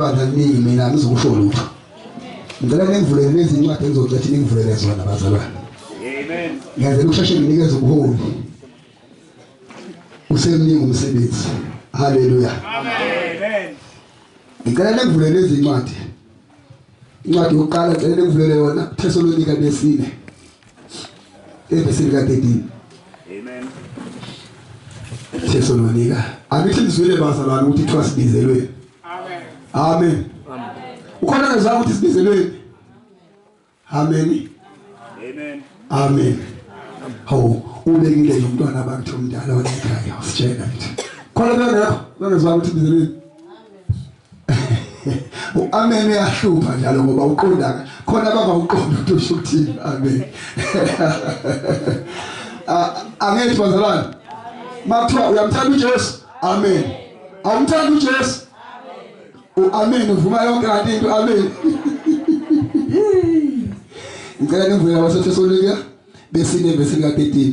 bandla kuningi mina angizukusho lutho ngicela ningivulele lezi ncwadi engizocethi ningivulele zona bazalwane amen ngenzela ukusheshe nginikeze ubuholi usemningi umsebenzi haleluya amen ngicela ningivulele lezi ncwadi incwadi yokuqala ngicela ningivulele yona thesalonika lesine evesini ka-13 amen Jesu nonika angithi ngizwile bazalwane ukuthi kuthiwa sibizelweni amen amen ukhona ngezwa ukuthi sibizelweni amen amen amen hawu ubekile umntwana bakhe omdala wasekhaya usitshela ukuthi khona bengekho bengezwa ukuthi bizelweni uamen uyahlupha njalo ngoba uqondaka khona abangawuqondi ukuthi usho ukuthini amen angethi bazalwane makuthiwa uyamthanda uJesu amen awumthanda uJesu uamen uvuma yonke kanti into amen ngicela nivule waseThesalonika besine verse lika 13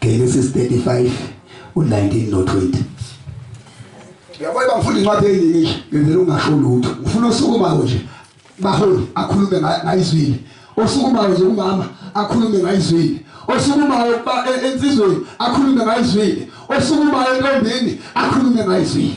Genesis 35 u19 no20 Yabo bangifunda incwadi eyiningi ngenzela ungasho lutho ufuna usukumayo nje baholi akhulume ngayizwile osukumayo nje umama akhulume ngayizwile osukumayo ba e, ensizweni akhulume ngayizwile osukumayo entombini akhulume ngayizwile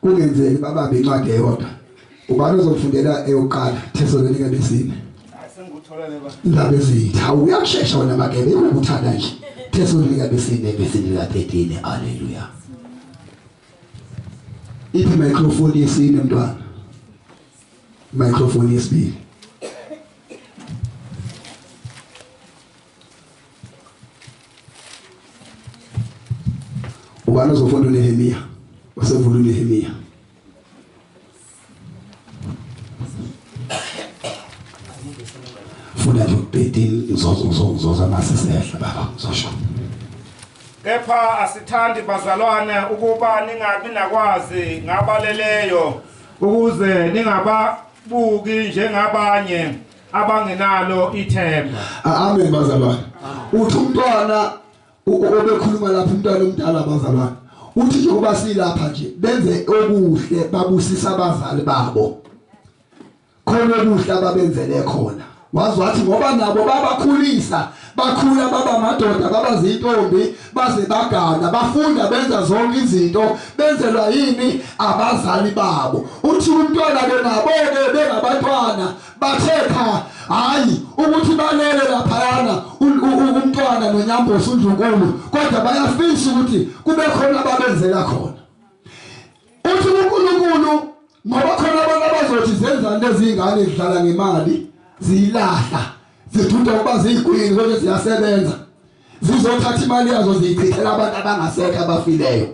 kungenzeki babambe incwadi eyodwa ubani ozofundela eyokuqala thesalonika lesine indaba ezinhle hawu uyakushesha wena magebe ukuthanda nje thesalonika lesine lesine la 13 haleluya iphi microphone yesine mntwana microphone yesibili Ubani uzofunda uNehemiya? Usevula uNehemiya. Funda nje ubhedini uzozozoza masisehla baba uzosho. Kepha asithandi bazalwane ukuba ningabi nakwazi ngabaleleyo ukuze ningababuki njengabanye abangenalo ithemba amen bazalwane uthi umntwana obekhuluma lapha umntwana omdala bazalwane uthi njengoba silapha nje benze okuhle babusisa abazali babo khona okuhle ababenzele khona wazi wathi ngoba nabo babakhulisa bakhula baba madoda baba zintombi baze bagana bafunda benza zonke izinto benzelwa yini abazali babo uthi umntwana ke nabo ke bengabantwana bathe cha hayi ukuthi balele laphayana umntwana nonyambosi undlunkulu kodwa bayafisa ukuthi kube khona ababenzela khona uthi uNkulunkulu ngoba khona abantu abazothi zenzani lezi ngane zidlala ngemali ziyilahla zithunta ukuba ziyigwini kodwa ziyasebenza zizothatha imali yazo ziyichithela abantu abangasekho abafileyo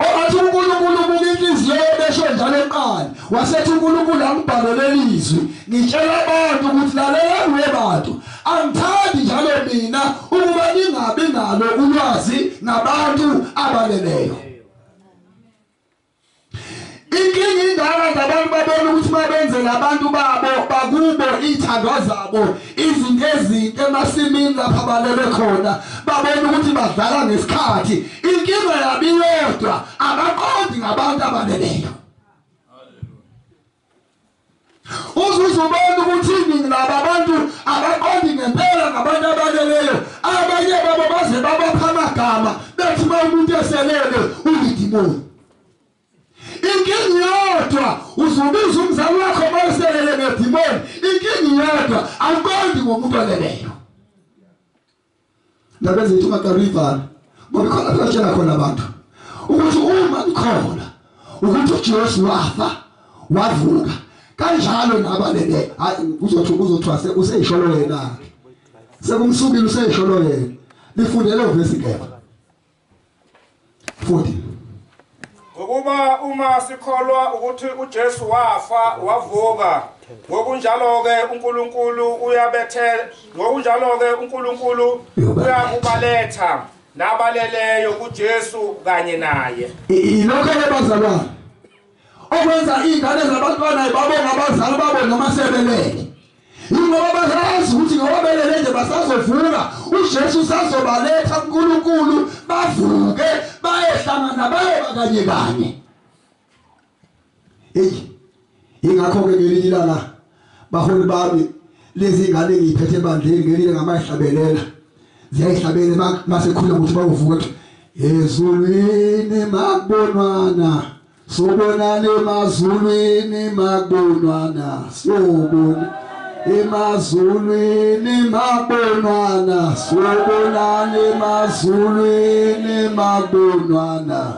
owathi uNkulunkulu ubuka inhliziyo yebesho njalo eqala wasethi uNkulunkulu angibhalele lizwi ngitshela abantu ukuthi lalela kuye bantu angithandi njalo mina ukuba ningabi nalo ulwazi ngabantu abaleleyo Inkinga indala ngabantu babona ukuthi uma benzela abantu babo bakubo iy'thandwa zabo izinto ezinto emasimini lapha balele khona babona ukuthi badlala ngesikhathi inkinga yabo iyodwa abaqondi ngabantu abaleleyo Uzuze ubona ukuthi iningi laba abantu abaqondi ngempela ngabantu abaleleyo. Abanye babo baze babapha amagama bethi uma umuntu eselele ulidimoni. Inkinga yodwa uzubiza umzali wakho uma eselele ngedimoni. Inkinga yodwa awuqondi ngomuntu oleleyo. Ndaba zethu makarivana ngoba khona kuyotshela khona abantu ukuthi uma kukhona ukuthi uJesu wafa wavuka kanjalo nabalele hayi kuzothi kuzothiwa useyisholo yena ke sekumsukile useyisholo yena lifundele uvesi kepha futhi ngokuba uma sikholwa ukuthi uJesu wafa wavuka ngokunjalo ke uNkulunkulu uyabethe ngokunjalo ke uNkulunkulu uyakubaletha nabaleleyo kuJesu kanye naye ilokho ebazalwane okwenza ingane zabantwana babonga abazali babo noma sebelele Ingoba bayazi ukuthi ngoba belele nje basazovuka, uJesu usazobaletha kuNkulunkulu bavuke bayehlangana bayoba kanye kanye. Eyi ingakho ke ngelinye ilanga baholi bami lezi ngane ngiyiphethe ebandleni ngelinye ngamayihlabelela ziyayihlabela masekhuluma ukuthi bawuvuka ezulwini makubonwana Sobonana emazulwini makubonwana sobona emazulwini makubonwana sobonana emazulwini makubonwana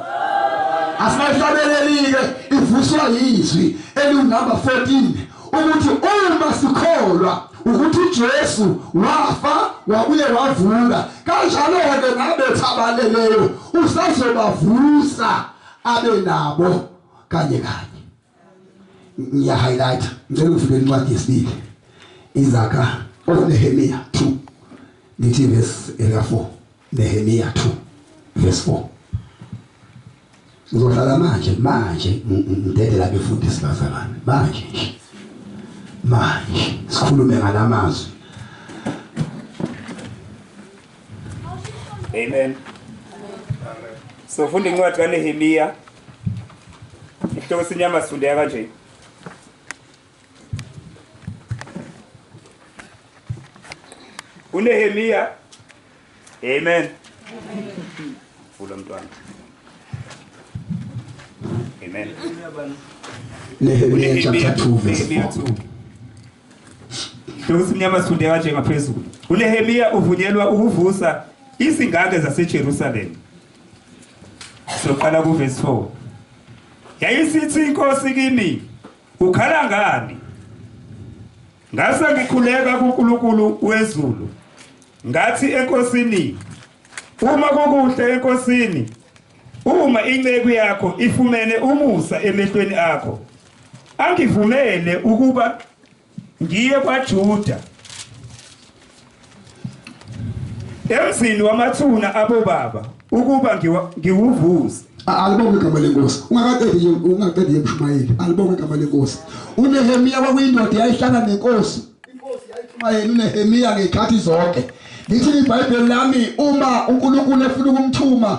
Asibahlabelelike ivuswa yizwi eliwunumber 14 ukuthi uma sikholwa ukuthi uJesu wafa wabuye wavuka kanjalo ke nabethabaleleyo usazobavusa abe nabo kanye kanye ngiya highlight ngicela ufike incwadi yesibili izakha of oh, Nehemiah 2 ngithi verse 4 Nehemiah 2 verse 4 ngizohlala manje manje ngidedela befundisi bazalwane manje nje manje sikhulume ngalamazwi Amen. So funda incwadi kaNehemiya. Isihloko sinyama sifundeka kanje. UNehemiya Amen. Vula mntwana. Amen. Nehemiya chapter 2 verse 4. Bekusimnyama sifunde kanje ngaphezulu. UNehemiya uvunyelwa ukuvusa izingane zaseJerusalema. Soqala kuverse 4. Yayisithi inkosi kimi, ukhala ngani? Ngase ngikhuleka kuNkulunkulu wezulu. Ngathi enkosini, uma kukuhle enkosini, Uma inceku yakho ifumene umusa emehlweni akho, angivumele ukuba ngiye kwaJuda emzini wamathuna abobaba ukuba ngiwa- ngiwuvuze. A- alibonge igama lenkosi ungakaqedi nje ungaqedi nje mshumayeli alibonge igama lenkosi unehemiya kwakuyindoda eyayihlala nenkosi inkosi yayishumayeli unehemiya ngey'khathi zonke lithi ibhayibheli lami uma unkulunkulu efuna ukumthuma